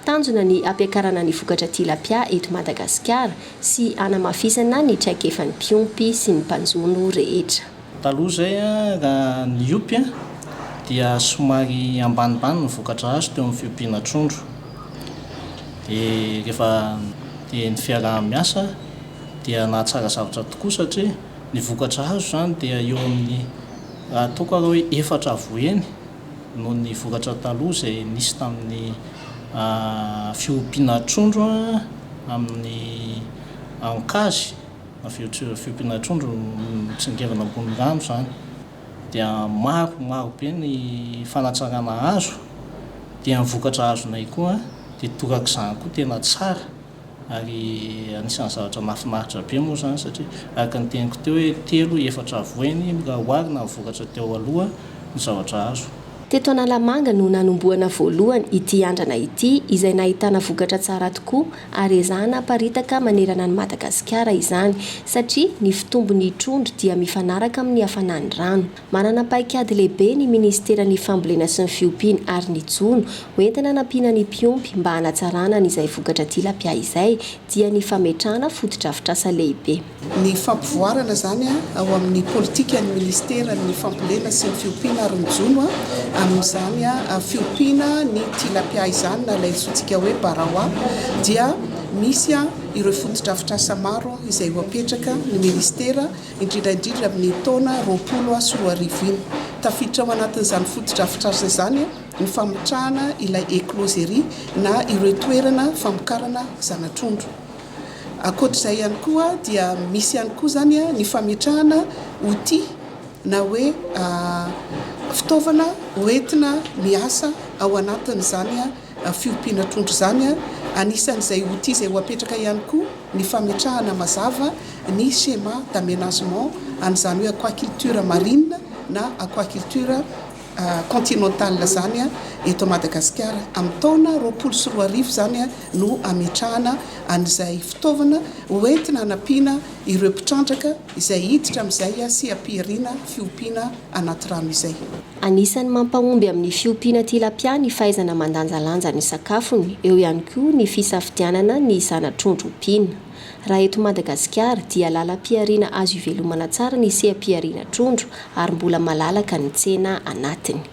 Tanjona ny hampiakarana ny vokatra tilapia eto Madagasikara sy hanamafisana ny traikefan'ny mpiompy sy ny mpanjono rehetra. Taloha izay, raha niompy, dia somary ambanimbany ny vokatra azo teo amin'ny fiompiana trondro. Dia rehefa dia ny fiaraha-miasa dia nahatsara zavatra tokoa satria ny vokatra azo izany dia eo amin'ny, raha ataoko arô hoe efatra avoheny noho ny vokatra taloha izay nisy tamin'ny fiompiana trondro amin'ny ankazy, fiompiana trondro mitsingevana ambony rano izany dia maro maro be ny fanatsarana azo dia ny vokatra azonay koa dia torak'izany koa tena tsara. Ary anisan'ny zavatra mahafinaritra be moa izany satria araka ny teniko teo hoe telo, efatra avoiny raha oharina amin'ny vokatra teo aloha ny zavatra azo. Teto Analamanga no nanombohana voalohany ity andrana ity izay nahitana vokatra tsara tokoa ary ezahana haparitaka manerana an'i Madagasikara izany satria ny fitombon'ny trondro dia mifanaraka amin'ny hafanan'ny rano. Manana paikady lehibe ny Ministeran'ny Fambolena sy ny Fiompiana ary ny Jono, ho entina hanampiana ny mpiompy mba hanatsarana an' izay vokatra tilapia izay, dia ny fametrahana fotodrafitrasa lehibe. Ny fampivoarana izany ao amin'ny politikan'ny Ministeran'ny Fambolena sy ny Fiompiana ary ny Jono amin'izany fiompiana ny tilapia izany na ilay antsointsika hoe barawa dia misy ireo fotodrafitrasa maro izay ho apetraka ny Ministera indrindra indrindra amin'ny taona roapolo sy roa arivo iny. Tafiditra ao anatin'izany fotodrafitrasa izany ny fametrahana ilay écloserie na ireo toerana famokarana zana-trondro. Ankoatr'izay ihany koa dia misy ihany koa izany ny fametrahana outils na hoe fitaovana hoentina miasa ao anatin'izany fiompiana trondro izany. Anisan'izay outil izay ho apetraka ihany koa ny fametrahana mazava ny schéma d'aménagement an'izany hoe aquaculture marine na aquaculture continentale izany eto Madagasikara. Amin'ny taona roapolo sy roa arivo izany no hametrahana an'izay fitaovana ho entina hanampiana ireo mpitrandraka izay hiditra amin'izay sy hampiherina fiompiana anaty rano izay. Anisan'ny mampahomby amin'ny fiompiana tilapia ny fahaizana mandanjalanja ny sakafony, eo ihany koa ny fisafidianana ny zana-trondro ompiana. Raha eto Madagasikara dia lalam-pihariana azo ivelomana tsara ny seha-pihariana trondro ary mbola malalaka ny tsena anatiny.